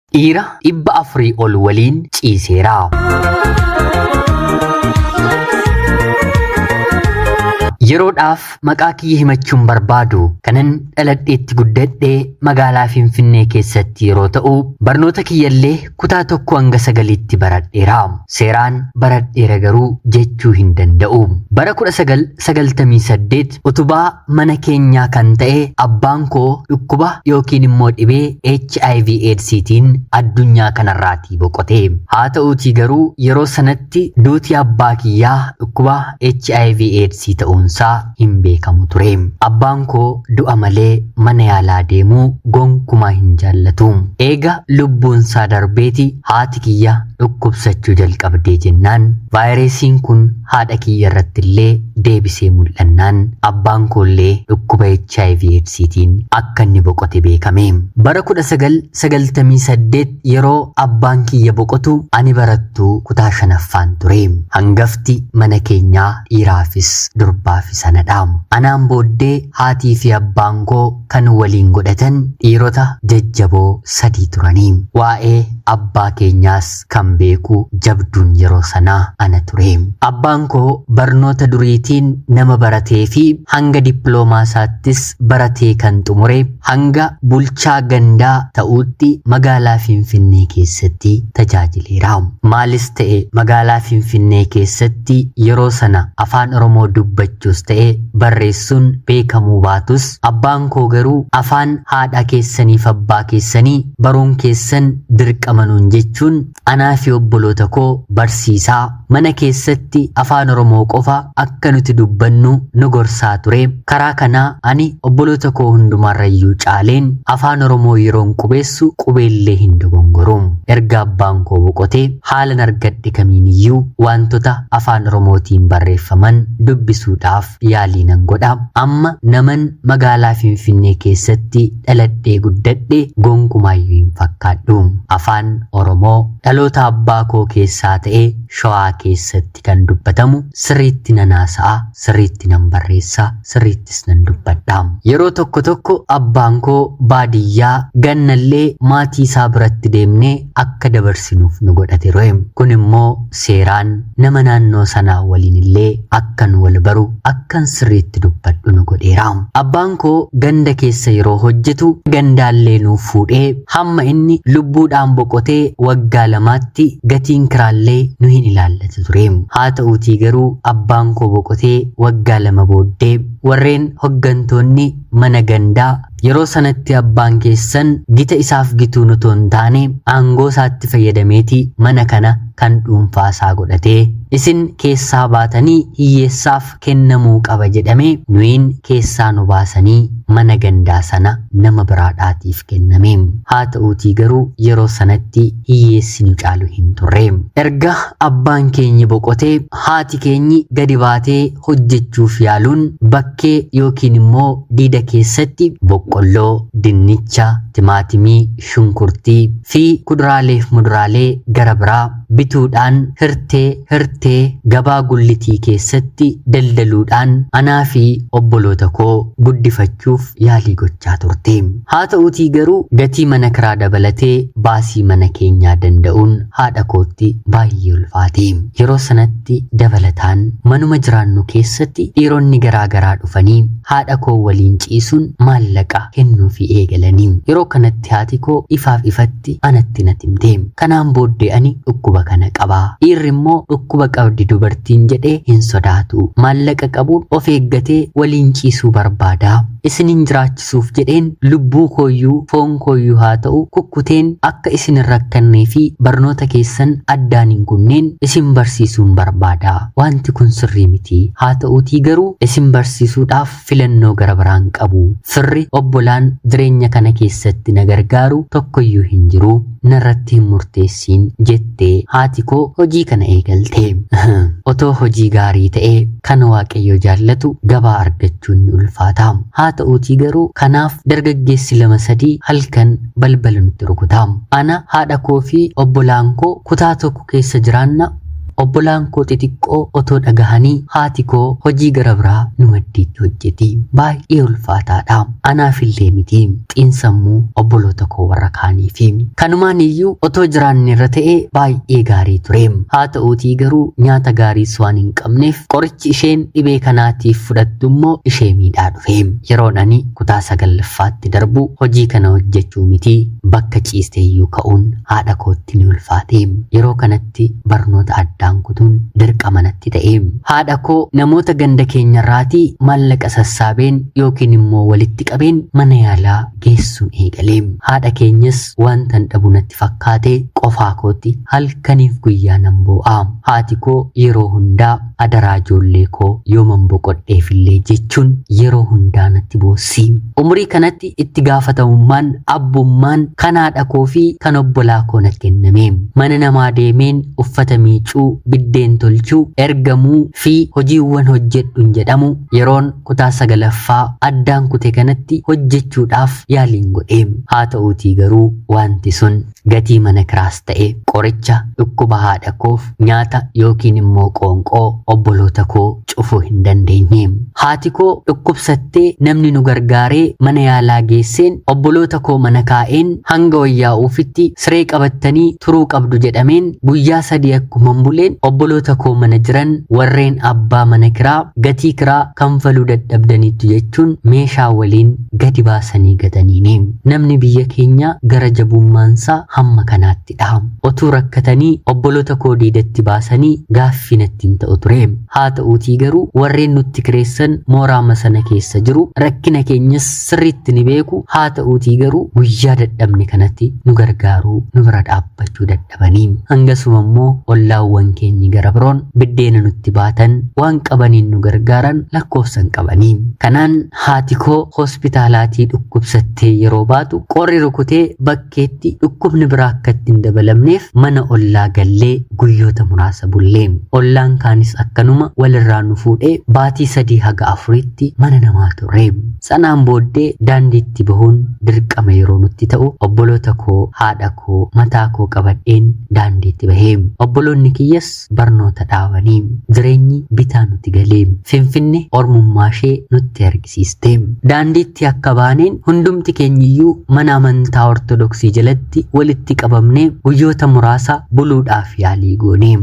Dhiira dhibba afurii ol waliin ciiseera. Yeroodhaaf maqaa kiyya himachuun barbaadu kanan dhaladheetti guddadhe magaalaa Finfinnee keessatti yeroo ta'u barnoota kiyyallee kutaa tokko hanga sagaliitti baradheera. Seeraan baradheera garuu jechuu hin danda'u. Bara 1998 utubaa mana keenyaa kan ta'e abbaan koo dhukkuba yookiin immoo dhibee hiv eedsiitiin addunyaa kanarraatii boqote haa ta'uutii garuu yeroo sanatti duuti abbaa kiyyaa dhukkuba hiv eedsii ta'uunsaa hin beekamu ture abbaan koo du'a malee mana yaalaa deemuu gonkumaa hin jaallatu eega lubbuunsaa darbeeti haati kiyya dhukkubsachuu jalqabdee jennaan vaayiresiin kun haadha kiyya irratti illee deebisee mul'annaan abbaan koo illee dhukkuba hiv eedsiitiin akka inni boqote beekame. Bara 1998 yeroo abbaan kiyya boqotu ani barattuu kutaa shanaffaan ture. Hangafti mana keenyaa dhiiraafis durbaafis anadha. Anaan booddee haatii fi abbaan koo kan waliin godhatan dhiirota jajjaboo sadii turani. Waa'ee abbaa keenyaas kan beeku jabduun yeroo sanaa ana ture. Abbaan koo barnoota duriitiin nama baratee fi hanga dippiloomaa isaattis baratee kan xumure hanga bulchaa gandaa ta'uutti magaalaa Finfinnee keessatti tajaajileera. Maalis ta'e magaalaa Finfinnee keessatti yeroo sana afaan Oromoo dubbachuus ta'e barreessuun beekamuu baatus abbaan koo garuu afaan haadhaa keessaniif abbaa keessanii baruun keessan dirqama nuun jechuun anaa fi obboloota koo barsiisaa mana keessatti afaan oromoo qofa akka nuti dubbannu nu gorsaa ture karaa kanaa ani obboloota koo hundumaarrayyuu caaleen afaan oromoo yeroon qubeessu qubeellee hin dogongoru erga abbaan koo boqotee Haalan argadhe kamiiniyyuu waantota Afaan Oromootiin barreeffaman dubbisuudhaaf yaalii nan godha. Amma naman magaalaa Finfinnee keessatti dhaladhee guddadhe gonkumaayyuu hin fakkaadhu. Afaan Oromoo dhaloota abbaa koo keessaa ta'e Shawaa keessatti. keessatti kan dubbatamu sirriitti nan haasa'a, sirriitti nan barreessa, sirriittis nan dubbadha. Yeroo tokko tokko abbaan koo baadiyyaa gannallee maatii isaa biratti deemnee akka dabarsinuuf nu godha ture. Kun immoo seeraan nama naannoo sanaa waliin illee akkan wal baru akkan sirriitti dubbadhu nu godheera. Abbaan koo ganda keessa yeroo hojjetu gandaallee nuuf fuudhee Hamma inni lubbuudhaan boqotee waggaa lamaatti gatiin kiraallee nu hin ilaallatu ture. Haata'uutii garuu abbaan koo boqotee waggaa lama booddee warreen hoggantoonni mana gandaa yeroo sanatti abbaan keessan gita isaaf gituun otoo hin taane aangoo isaatti fayyadameeti mana kana kan dhuunfaa isaa godhate. Isin keessaa baatanii hiyyeessaaf kennamuu qaba jedhame nuyiin keessaa nu baasanii mana gandaa sana nama biraadhaatiif kenname. Haa ta'uutii garuu yeroo sanatti hiyyeessi nu caalu hin turre. Erga abbaan keenyi boqotee haati keenyi gadi baatee hojjechuuf yaaluun bakkee yookiin immoo diida keessatti boqqolloo, dinnicha, timaatimii, shunkurtii, fi kuduraaleef muduraalee gara biraa bituudhaan hirtee, hirtee, gabaa gullitii keessatti daldaluudhaan anaa fi obboloota koo guddifachuuf yaalii gochaa turte. Haa ta'uutii garuu gatii mana kiraa dabalatee baasii mana keenyaa danda'uun haadha kootti baay'ee ulfaate. Yeroo sanatti dabalataan manuma jiraannu keessatti dhiironni garaa garaa dhufanii haadha koo waliin ciisuun maallaqa kennuufii eegalani. Yeroo kanatti irratti haati koo ifaaf ifatti anatti nat himte. Kanaan booddee ani dhukkuba kana qaba. Dhiirri immoo dhukkuba qabdi dubartiin jedhee hin sodaatu. Maallaqa qabuun of eeggatee waliin ciisuu barbaada. Isinin jiraachisuuf jedheen lubbuu kooyyuu foon kooyyuu haa ta'u kukkuteen akka isin hin rakkannee fi barnoota keessan addaan hin kunneen isin barsiisuun barbaada. Wanti kun sirrii miti. Haa ta'uutii garuu isin barsiisuudhaaf filannoo gara biraan qabu. Firri, obbolaan, jireenya kana keessatti na gargaaru tokkoyyuu hin jiru. Narratti hin murteessiin, jette haati koo hojii kana eegalte. Otoo hojii gaarii ta'e kan Waaqayyo jaallatu gabaa argachuun ni ulfaata. Haa ta'uutii garuu kanaaf dargaggeessi lama sadii halkan balbala nutti rukuta. Ana, haadha koo fi obbolaan koo kutaa tokko tokko keessa jiraanna. Obbolaan koo xixiqqoo otoo dhagahanii haati koo hojii gara biraa nu maddiitti hojjeti. Baay'ee ulfaataadha. Anaafillee miti. Xiinsammuu obboloota koo warra kaaniifi. Kanumaan iyyuu otoo jiraanne irra ta'e baay'ee gaarii ture. Haa ta'uutii garuu nyaata gaariis waan hin qabneef qorichi isheen dhibee kanaatiif fudhattu immoo ishee miidhaa dhufe. Yeroon ani kutaa sagallaffaatti darbu hojii kana hojjechuu miti bakka ciiste iyyuu ka'uun haadha kootti ni ulfaate. Yeroo kanatti barnoota addaan kutuun dirqama natti ta'e. Haadha koo namoota ganda keenyarraati maallaqa sassaabeen yookiin immoo walitti qabeen mana yaalaa geessuun eegale. Haadha keenyas waantan dhabu natti fakkaate qofaa kootti halkaniif guyyaa nan boo'a. Haati koo yeroo hundaa Adaraa ijoollee koo yooman boqodheefillee jechuun yeroo hundaa natti boossi. Umurii kanatti itti gaafatamummaan abbummaan kan haadha koo fi kan obbolaa koo natti kenname. Mana namaa deemeen uffata miicuu, biddeen tolchuu, ergamuu fi hojiiwwan hojjedhun jedhamu yeroon kutaa sagalaffaa addaan kute kanatti hojjechuudhaaf yaaliin godhe. Haa ta'uutii garuu waanti sun. gatii mana kiraas ta'e qoricha dhukkuba haadha koof nyaata yookiin immoo qoonqoo obboloota koo cufuu hin dandeenye. Haati koo dhukkubsattee namni nu gargaaree mana yaalaa geesseen obboloota koo mana kaa'een hanga wayyaa'uufitti siree qabattanii turuu qabdu jedhameen guyyaa sadii akkuman buleen obboloota koo mana jiran warreen abbaa mana kiraa gatii kiraa kanfaluu dadhabdaniittu jechuun meeshaa waliin gadi baasanii gataniini. Namni biyya keenyaa gara jabummaansaa hamma kanaatti dha. Otuu rakkatanii obboloota koo diidatti baasanii gaaffii natti hin ta'u ture. Haata'uutii garuu warreen nutti kireessan mooraama sana keessa jiru, rakkina keenyas sirriitti ni beeku, haata'uutii garuu guyyaa dadhabne kanatti nu gargaaruu, nu bira dhaabbachuu dhabaniin hangasuma immoo ollaawwan keenyi gara biroon biddeena nutti baatan waan qabaniin nu gargaaran lakkoofsan qabanii kanaan haati koo hospitaalaatii dhukkubsattee yeroo baatu qorri rukutee bakkeetti dhukkubni biraa akka itti hin dabalamneef mana ollaa gallee guyyoota muraasa bullee ollaan kaanis akkanuma walirraa nu fuudhee baatii sadii haga afuriitti mana namaa turre. Sanaan booddee daandiitti bahuun dirqama yeroo nutti ta'u obboloota koo, haadha koo, mataa koo qabadheen daandiitti bahe. Obboloonni kiyyas barnoota dhaabanii. Jireenyi bitaa nuti gale. Finfinne ormummaashee nutti argisiiste. Daandiitti akka baaneen hundumti keenyiyyuu mana amantaa Ortodoksii jalatti walitti qabamnee guyyoota muraasa buluudhaaf yaalii goone.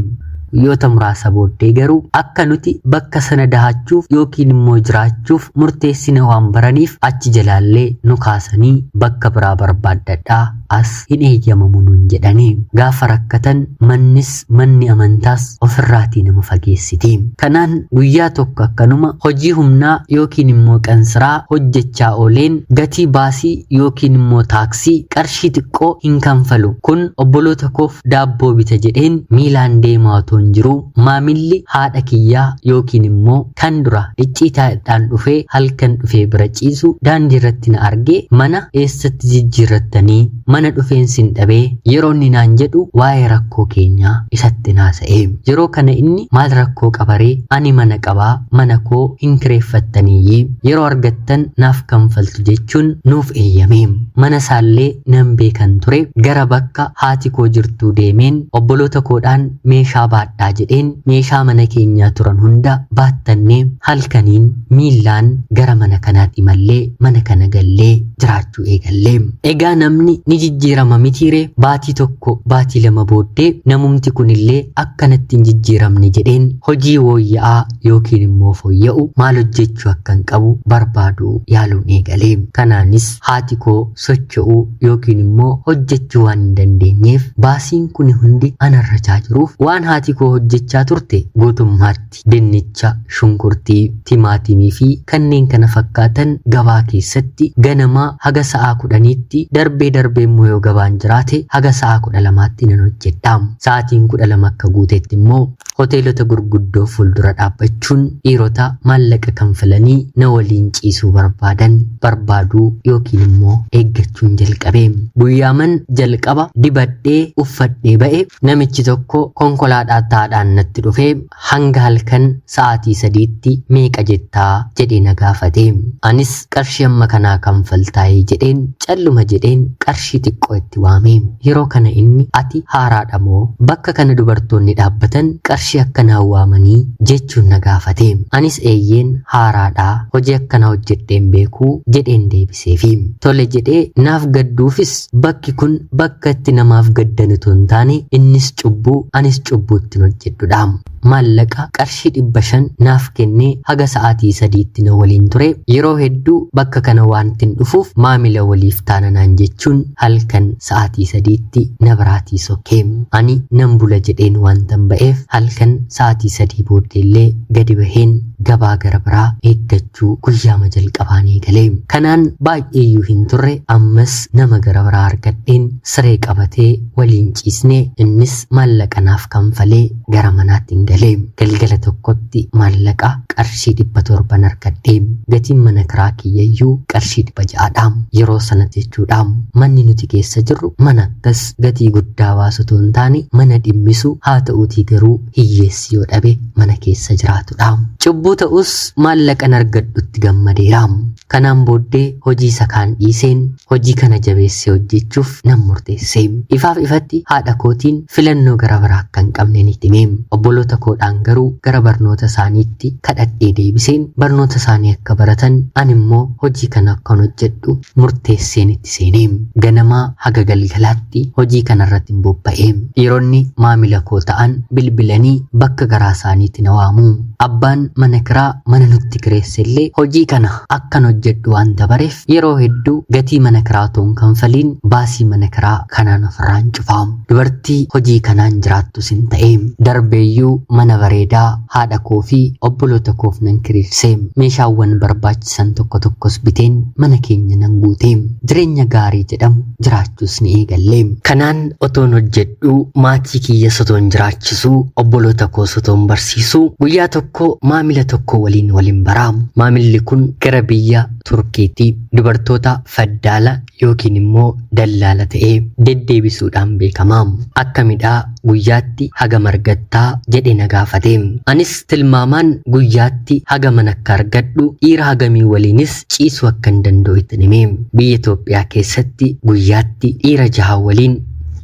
Guyyoota muraasa booddee garuu akka nuti bakka sana dahachuuf yookiin immoo jiraachuuf murteessine waan baraniif achi jalaallee nu kaasanii bakka biraa barbaaddadhaa as hin eeyyamamu nuun jedhani. Gaafa rakkatan mannis manni amantaas ofirraatii nama fageessiti. Kanaan guyyaa tokko akkanuma hojii humnaa yookiin immoo qansiraa hojjechaa ooleen gatii baasii yookiin immoo taaksii qarshii xiqqoo hin kanfalu. Kun obboloota koo Daabboo bita jedheen miilaan deemaa otoon jiruu maamilli haadha kiyyaa yookiin immoo kan dura icciitaadhaan dhufee halkan dhufee bira ciisu daandiirratti na argee mana eessatti jijjiirrattanii mana dhufeen sin dhabee yeroo inni naan jedhu waa'ee rakkoo keenyaa isattin haasa'e. Yeroo kana inni maal rakkoo qaba ree ani mana qabaa mana koo hin kireeffattaniiyyi yeroo argattan naaf kanfaltu jechuun nuuf eeyyame. Mana isaallee nan beekan ture. Gara bakka haati koo jirtuu deemeen obboloota koodhaan meeshaa baadhaa jedheen meeshaa mana keenyaa turan hunda baattannee halkaniin miillaan gara mana kanaat imallee mana kana gallee jiraachuu eegalle. Egaa namni ni jijjiirama mitiiree? Baatii tokko baatii lama booddee namumti kunillee akkanatti hin jijjiiramne jedheen hojii wooyya'aa yookiin immoo fooyya'u maal hojjechuu akkan qabu barbaaduu yaaluun eegale. Kanaanis haati koo socho'uu yookiin immoo hojjechuu waan hin dandeenyeef baasiin kuni hundi ana irra chaa jiruuf waan haati koo hojjechaa turte guutummaatti dinnicha, shunkurtii, timaatimii fi kanneen kana fakkaatan gabaa keessatti ganamaa haga sa'aa kudhaniitti darbee darbee immoo yoo gabaan jiraate haga sa'aa kudha lamaatti nan hojjedha. Sa'aatiin kudha lama akka guutetti immoo Hoteelota gurguddoo fuuldura dhaabbachuun dhiirota maallaqa kanfalanii na waliin ciisuu barbaadan barbaaduu yookiin immoo eeggachuun jalqabe. Guyyaaman jalqaba dibadhee uffadhee ba'e namichi tokko konkolaadhaataadhaan natti dhufee hanga halkan sa'aatii sadiitti meeqa jettaa jedhee na gaafate. Anis qarshii hamma kanaa kanfaltaayii jedheen Calluma jedheen qarshii xiqqoo itti waame. Yeroo kana inni ati haaraadha moo? Bakka kana dubartoonni dhaabbatan qarshii akkanaan waamanii? jechuun na gaafate. Anis eeyyeen haaraadha, hojii akkanaa hojjedhee hin beeku jedheen deebiseefi. Tole jedhee naaf gadduufis bakki kun bakka itti namaaf gaddan utuu hin taane innis cubbuu anis cubbuu ittin hojjedhudha. Maallaqa qarshii 500 naaf kennee haga sa'aatii sadiitti na waliin ture. Yeroo hedduu bakka kana waantin dhufuuf maamila waliif taana naan jechuun halkan sa'aatii sadiitti na biraatii sokke. Ani nan bula jedheen waantan ba'eef halkan sa'aatii sadii booddeellee gadi baheen gabaa gara biraa eeggachuu. jechuu guyyaama jalqabaan eegale. Kanaan baay'eeyyuu hin turre ammas nama gara biraa argadheen siree qabatee waliin ciisne innis maallaqa naaf kanfalee gara manaatti hin gale. Galgala tokkotti maallaqa qarshii dhibba torban argadhe. Gatiin mana kiraa kiyyayyuu qarshii dhibba ja'adha. Yeroo sanatti jechuudha. Manni nuti keessa jirru mana akkas gatii guddaa baasu otoo hin taane mana dhimmisu haa ta'uutii garuu hiyyeessi yoo dhabe mana keessa jiraatudha. Cubbuu ta'us maallaqan argadhutti gammadeera. Kanaan booddee hojii isa kaan dhiiseen hojii kana jabeessee hojjechuuf nan murteesse. Ifaaf ifatti haadha kootiin filannoo gara biraa akka hin qabne ni hime. Obboloota koodhaan garuu gara barnoota isaaniitti kadhadhee deebiseen barnoota isaanii akka baratan ani immoo hojii kana akkan hojjedhu murteesseen itti seene. Ganamaa haga galgalaatti hojii kanarrattin bobba'e. Dhiironni maamila koo ta'an bilbilanii bakka garaasaaniitti na waamu. Abbaan mana kiraa mana nutti kireessellee hojii kana akkan hojjedhu waanta bareef yeroo hedduu gatii mana kiraa otoo hin kanfaliin baasii mana kiraa kanaan ofirraan cufa. Dubartii hojii kanaan jiraattus hin ta'e. Darbeeyyuu mana bareedaa Haadha koo fi obboloota koof nan kireesse. Meeshaawwan barbaachisan tokko tokkos biteen mana keenya nan guute. Jireenya gaarii jedhamu jiraachuus ni eegalle. Kanaan otoon hojjedhuu, maatii kiyyas otoon jiraachisuu, obboloota koos otoon barsiisuu, guyyaa tokko maamila tokko waliin walin bara. Maamilli kun gara biyya Turkiiti. Dubartoota Faddaala yookiin immoo dallaala ta'ee deddeebisuudhaan beekama. Akkamidhaa guyyaatti hagam argattaa? jedhee na gaafate. Anis tilmaamaan guyyaatti hagaman akka argadhu dhiira hagamii waliinis ciisuu akkan danda'u ittin hime. Biyya Itoophiyaa keessatti guyyaatti dhiira jaha waliin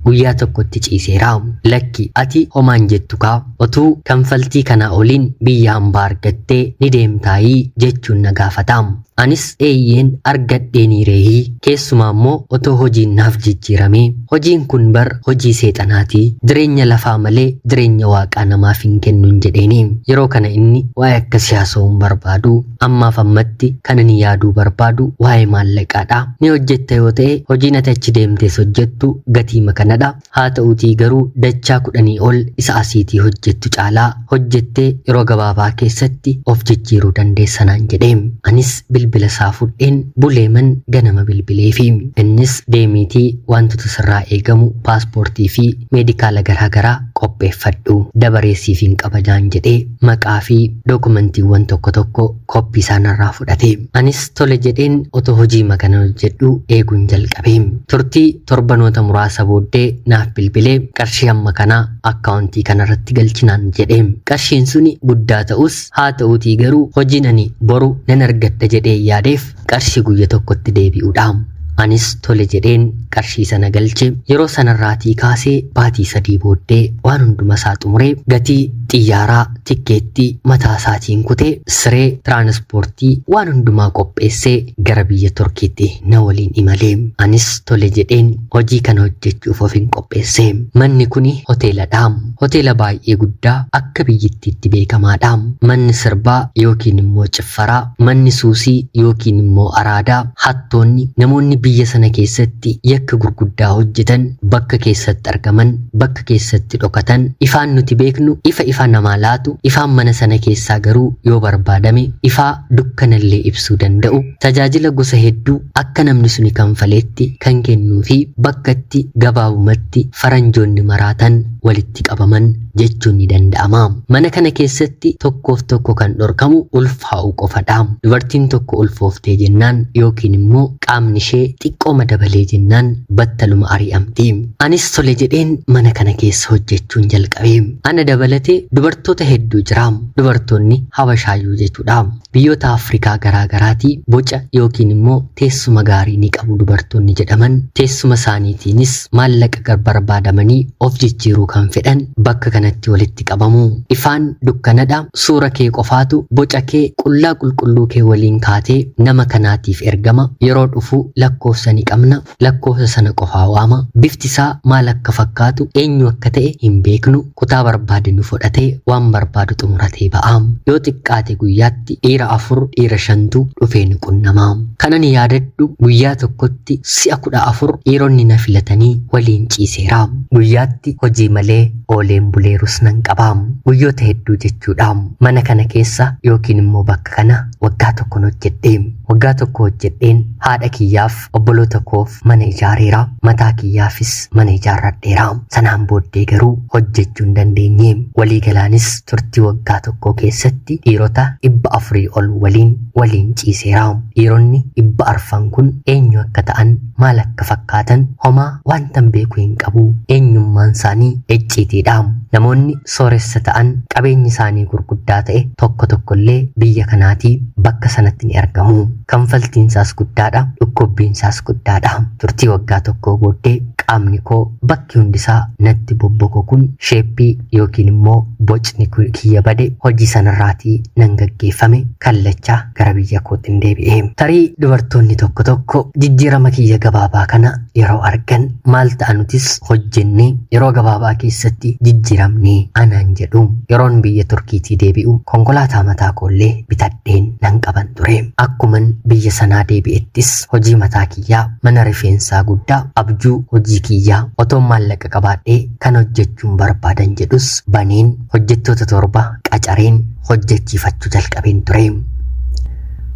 guyyaa tokkotti ciiseera. Lakki ati homaan jettu kaa otuu kanfaltii kanaa oliin biyya hambaa argattee ni deemtaayii jechuun na gaafata. Anis eeyyeen argadheeniirehii keessumaa immoo otoo hojiin naaf jijjiiramee hojiin kun bar hojii seexanaati jireenya lafaa malee jireenya waaqaa namaaf hin kennun jedheeni yeroo kana inni waa'ee akkasii haasa'uu hin barbaadu ammaaf ammatti kan ani yaaduu barbaadu waa'ee maallaqaadha ni hojjetta yoo ta'e hojiin ati achi deemtees hojjettu gatiima kanadha Haata'uutii garuu dachaa kudhanii ol isa asiitii hojjettu caalaa hojjettee yeroo gabaabaa keessatti of jijjiiruu dandeessa naan jedhe. Anis bilbila isaa fudheen Buleeman ganama bilbileefi. Innis deemiitii waantota sirraa eegamu paaspoortii fi meedikaala garaa garaa qopheeffadhu. Dabaree siifin qaba naan jedhee maqaa fi dookumantiiwwan tokko tokko koppii isaa narraa fudhate. Anis tole jedheen otoo hojiima kanan hojjedhuu eeguun jalqabe. Turtii Torbanoota muraasa booddee naaf bilbilee qarshii hamma kanaa akkaawuntii kanarratti galchi naan jedhe. Qarshiin suni guddaa ta'us haa ta'uutii garuu hojiin ani boru nan argadha jedhee yaadeef qarshii guyya tokkotti deebi'uudha. Anis tole jedheen qarshii sana galche. Yeroo sanarraatii kaasee baatii sadii booddee waan hundumasaa xumuree gatii xiyyaaraa tikkeettii mataa isaatiin kutee siree tiraanispoortii waan hundumaa qopheessee gara biyya Turkiitti na waliin imale. Anis tole jedheen hojii kana hojjechuuf ofin qopheesse. Manni kuni hoteeladha. Hoteela baay'ee guddaa akka biyyittiitti beekamaadha. Manni sirbaa yookiin immoo ciffaraa, manni suusii yookiin immoo araadaa, hattoonni, namoonni biyya sana keessatti yakka gurguddaa hojjetan bakka keessatti argaman bakka keessatti dhokatan, ifaan nuti beeknu ifa ifa namaa laatu, ifaan mana sana keessaa garuu yoo barbaadame ifaa dukkanallee ibsuu danda'u, tajaajila gosa hedduu akka namni suni kanfaleetti kan kennuufi bakka itti gabaabumatti faranjoonni maraatan walitti qabaman jechuun ni danda'ama. Mana kana keessatti tokkoof tokko kan dhorkamu ulfaa'uu qofadha. Dubartiin tokko ulfooftee jennaan yookiin immoo qaamni ishee xiqqooma dabalee jennaan battaluma ari'amti. Anis tole jedheen mana kana keessa hojjechuun jalqabe. Ana dabalatee dubartoota hedduu jira. Dubartoonni Habashaayyuu jechuudha. Biyyoota Afrikaa garaa garaati boca yookiin immoo teessuma gaarii ni qabu dubartoonni jedhaman. Teessuma isaaniitiinis maallaqa gar barbaadamanii of jijjiiruu kan fedhan bakka kanatti walitti qabamu. Ifaan dukkanadha. Suura kee qofaatu boca kee qullaa qulqulluu kee waliin kaatee nama kanaatiif ergama. Yeroo dhufu lakkoofsa ni qabna. Lakkoofsa sana qofaa waama. Bifti isaa maal akka fakkaatu, eenyu akka ta'e hin beeknu. Kutaa barbaade nu fodhatee waan barbaadu xumuratee ba'a. Yoo xiqqaate guyyaatti dhiira afur, dhiira shantu dhufee nu qunnama. Kanan yaadadhu guyyaa tokkotti si'a kudha afur dhiironni na filatanii waliin ciiseera. Guyyaatti hojii malee ooleen buleerus nan qaba. Guyyoota hedduu jechuudha. Mana kana keessa yookiin immoo bakka kana waggaa tokkon hojjedhe. Waggaa tokko hojjedheen haadha kiyyaaf obboloota koof mana ijaareera mataa kiyyaafis mana ijaarradheera sanaan booddee garuu hojjechuu hin dandeenye waliigalaanis turtii waggaa tokkoo keessatti dhiirota dhibba afurii ol waliin waliin ciiseera dhiironni dhibba arfan kun eenyu akka ta'an maal akka fakkaatan homaa wantan beeku hin qabu eenyummaan isaanii icciitiidha namoonni sooressa ta'an qabeenyi isaanii gurguddaa ta'e tokko tokkollee biyya kanaatii bakka sanatti ni argamu Kanfaltiinsaas guddaadha, dhukkubbiinsaas guddaadha. Turtii waggaa tokkoo booddee qaamni koo bakki hundisaa natti bobbokokuun sheeppii yookiin immoo bocni kiyya bade hojii sanarraatii nan gaggeeffame kallacha gara biyya kootin deebi'e. Tarii dubartoonni tokko tokko jijjiirama kiyya gabaabaa kana yeroo argan maal ta'a nutis hojjennee yeroo gabaabaa keessatti jijjiiramnee anaan jedhu. Yeroon biyya Turkiitii deebi'u konkolaataa mataa koollee bitadhe. fudhadheen nan qaban ture. Akkuman biyya sanaa deebi'ettis hojii mataa kiyyaa mana rifeensaa guddaa abjuu hojii kiyyaa otoon maallaqa qabaadhee kan hojjechuun barbaadan jedhus baneen hojjettoota torba qacareen hojjechiifachuu jalqabeen ture.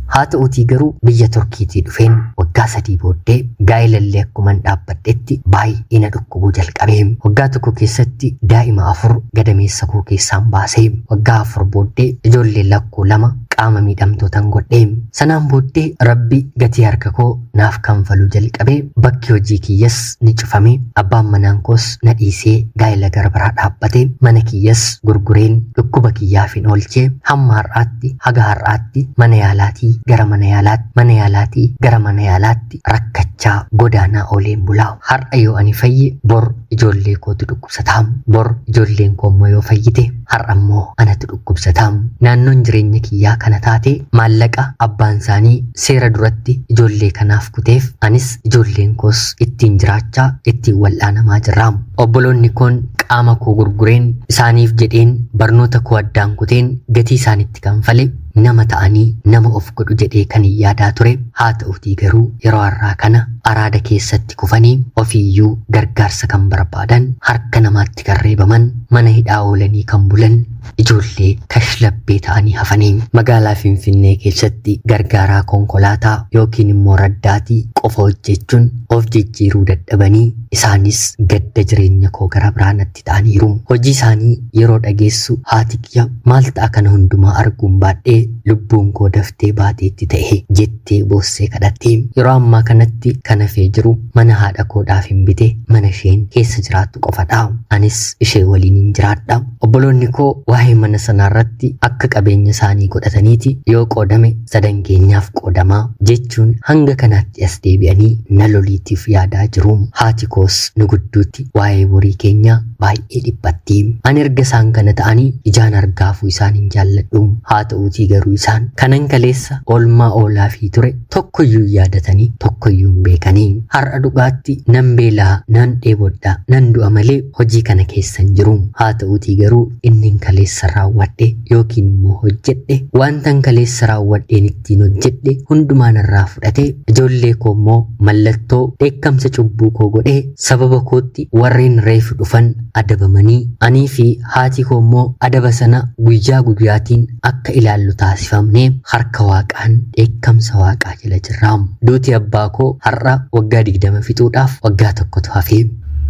Haa ta'uutii garuu biyya Turkiitii dhufeen waggaa sadii booddee gaa'elallee akkuman dhaabbadhetti baay'ee na dhukkubuu jalqabe. Waggaa tokko keessatti daa'ima afur gadameessa koo keessaan baase. Waggaa afur booddee ijoollee koo lama qaama miidhamtootan godhe. Sanaan booddee Rabbi gatii harka koo naaf kanfaluu jalqabe. Bakki hojii kiyyas ni cufame. Abbaan manaan koos na dhiisee gaa'ila gara biraa dhaabbate. Mana kiyyas gurgureen dhukkuba kiyyaafin oolche. Hamma har'aatti haga har'aatti mana yaalaatii gara mana yaalaatti mana yaalaatii gara mana yaalaatti rakkachaa godaanaa ooleen bulaa. Har'a yoo ani fayye bor ijoollee kootu dhukkubsata. Bor ijoolleen koo immoo yoo fayyite Har'ammoo anatu dhukkubsata. Naannoon jireenya kiyyaa kana taate maallaqa abbaansaanii seera duratti ijoollee kanaaf kuteef anis ijoolleen koos ittiin jiraachaa ittiin wal'aanamaa jirra. Obboloonni koon qaama koo gurgureen isaaniif jedheen barnoota koo addaan kuteen gatii isaanitti kanfale nama ta'anii nama of godhu jedhee kanin yaadaa ture haa ta'utii garuu yeroo har'aa kana araada keessatti kufanii ofiiyyuu gargaarsa kan barbaadan harka namaatti itti kan reebaman, mana hidhaa oolanii kan bulan, ijoollee kashlabbee ta'anii hafanii magaalaa Finfinnee keessatti gargaaraa konkolaataa yookiin immoo raddaatii qofa hojjechuun of jijjiiruu dadhabanii isaanis gadda jireenya koo gara biraa natti ta'aniiru. Hojii isaanii yeroo dhageessu haati kiyya maal ta'a kana hundumaa arguun baadhee lubbuun koo daftee baateetti ta'e jetti. jettee boossee kadhatte. Yeroo ammaa kanatti kan hafee jiru mana haadha koodhaaf hin bite mana isheen keessa jiraattu qofadha. Anis ishee waliin hin jiraadha. Obboloonni koo waa'ee mana sanaa irratti akka qabeenya isaanii godhataniiti yoo qoodame sadan keenyaaf qoodama jechuun hanga kanaatti as deebi'anii na loliitiif yaadaa jiru. Haati koos nu gidduutti waa'ee borii keenyaa baay'ee dhiphatti. Ani erga isaan kana ta'anii ijaan argaafuu isaan hin jaalladhu. Haa ta'uutii garuu isaan kanan kaleessa oolmaa oolaafii ture tokkoyyuu hin yaadatanii tokkoyyuu hin beekanii. Har'a dhugaatti nan beelaa, nan dheebodha, nan du'a malee hojii kana keessa hin jiru. Haa ta'uutii garuu innin kaleessa raawwadhe yookiin immoo hojjedhe wantan kaleessa raawwadheen ittiin hojjedhe hundumaa narraa fudhate ijoollee koo immoo mallattoo dheekkamsa cubbuu koo godhee Sababa kootti warreen reef dhufan adabamanii, anii fi haati koo immoo adaba sana guyyaa guyyaatiin akka ilaallu taasifamne harka Waaqaan dheekkamsa Waaqaa jala jirra. Duuti abbaa koo har'a waggaa 20 fixuudhaaf waggaa tokkotu hafe.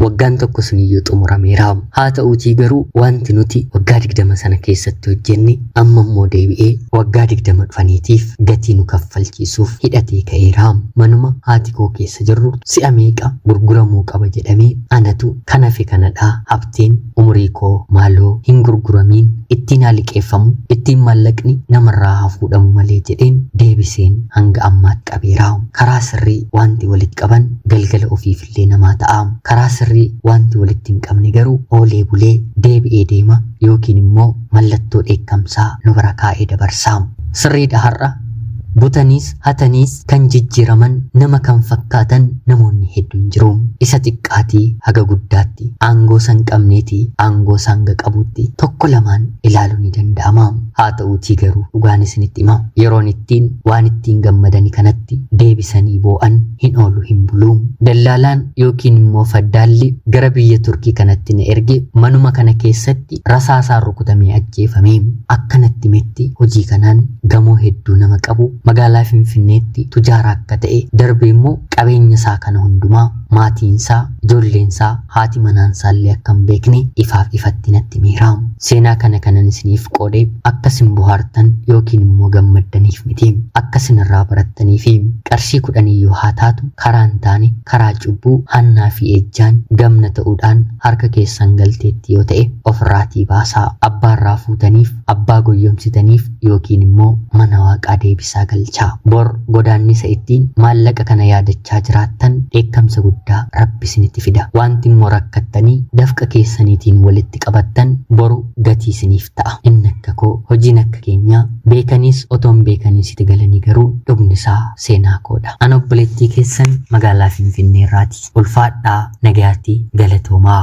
Waggaan tokko suniyyuu xumurameera. Haata'uutii garuu wanti nuti waggaa 20 sana keessatti hojjenne Amma immoo deebi'ee waggaa 20 dhufaniitiif gatii nu kaffalchiisuuf hidhatee ka'eera. Manuma haati koo keessa jirru si'a meeqa gurguramuu qaba jedhamee anatu kan hafe kanadha Habteen umurii koo maaloo hin gurguramiin ittiin haa liqeeffamu ittiin maallaqni namarraa haa fuudhamu malee jedheen deebiseen hanga ammaatti qabeera. Karaa sirrii waanti walitti qaban galgala ofiif illee namaa ta'a. Karaa sirrii waanti walitti hin qabne garuu oolee bulee deebi'ee deema yookiin immoo mallattoo dheekkamsaa nu bira kaa'ee dabarsa. Sirriidha har'a butaniis hataniis kan jijjiiraman nama kan fakkaatan namoonni hedduun jiru. Isa xiqqaatii haga guddaatti aangoo san qabneetii aangoo isaa hanga qabuutti tokko lamaan ilaaluun ni danda'ama. Haata'uutii garuu dhugaan isinitti hima, yeroon ittiin waan ittiin gammadani kanatti deebisanii boo'an hin oolu hin bulu. Dallaalaan yookiin immoo faddaalli gara biyya Turkii kanatti na erge manuma kana keessatti rasaasaan rukutamee ajjeefame. Akka natti himetti hojii kanaan gamoo hedduu nama qabu magaalaa Finfinneetti tujaara akka ta'e darbee immoo qabeenya isaa kana hundumaa maatiin isaa Ijoolleensaa, haati manaansaallee akka hin beekne ifaaf ifatti natti himeera. Seenaa kana kanan isiniif qoode akka isin bohaartan yookiin immoo gammaddaniif miti. Akka isin irraa barattaniifi. Qarshii kudhaniyyuu haa taatu karaa hin taane, karaa cubbuu, hannaa fi ejjaan, gamna ta'uudhaan harka keessan galteetti yoo ta'e ofirraatii baasaa. Abbaarraa fuutaniif Abbaa goyyomsitaniif yookiin immoo mana Waaqaa deebisaa galchaa. Bor godaannisa ittiin maallaqa kana yaadachaa jiraattan dheekkamsa guddaa Rabbi isinitti fida. Waanti immoo rakkattanii dafqa keessaniitiin walitti qabattan boru gatii isiniif ta'a. Inni akka koo, hojiin akka keenyaa, beekaniis otoo hin beekaniis iti galanii garuu dhugni isaa seenaa koodha. An obboleettii keessan magaalaa Finfinnee irraati. ulfaadhaa nagayaatti galatoomaa.